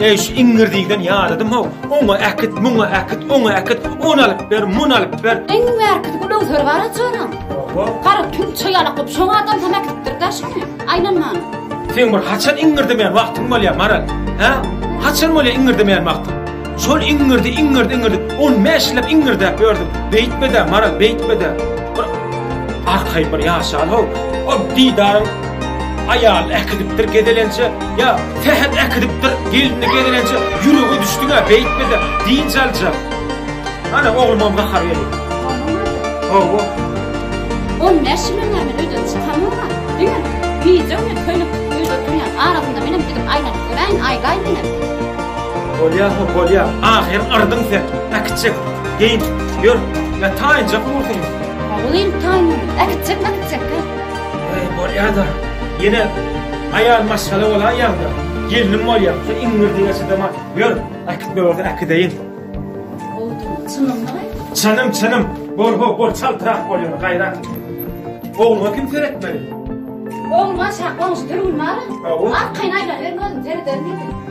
Eý şu iňirdiden ýadadym how, oňa äkit, muňa äkit, oňa äkit, ony alyp ber, muny alyp ber. Iň bärkidi bu lowzer bar açaram. Gara tümçe ýalak bolup şoňa adam hem äkitdir da şuny. Aýlanman. Sen bir haçan iňirdemeýän wagtyň bolýar Maral? Hä? Haçan bolýar iňirdemeýän wagtyň? Şol iňňirdi, iňňirdi, iňňirdi. On bäş ýyllap iňňirdäp ýördüm. Beýtme-de, Maral, beýtme-de. Bir arkaýyn bir ýaşan-how. O didaryň aýaly äkidipdir gezelenje, ýa Sähet äkidipdir gelini gezelenje, ýürege düşdüň-ä, beýtme-de, dynç alja. Ana, oglumam gahar geldi. Hawa. On bäş ýyllap men öýden çykamok-a. Diňe gije-gündiz köýnekde öýde oturýan. Arasynda menem gidip aýlanyp göräýin, aýlaýyn menem. Bolýa ho bolýa ahyr yrdyň sen na kiçjek geýin ýör ýa taýynjak bolsaň. Oglyň taýyn na kiçjek na kiçjek he. Eý bolýada ýene aýal maşgala bolaýýaňda gelnim bolýa sen iňňirdi ýaşadama ýör äkitme bolsa äkideýin. Ogluň çynyňmy aýt. Çynym çynym bol ho bol çaltrak bol ýöne gaýrat. Ogluňa kim seretmeli. Ogluňa şa goňşy dürgün bar. Arkaýyn aýlanyberme özüň serederin indi.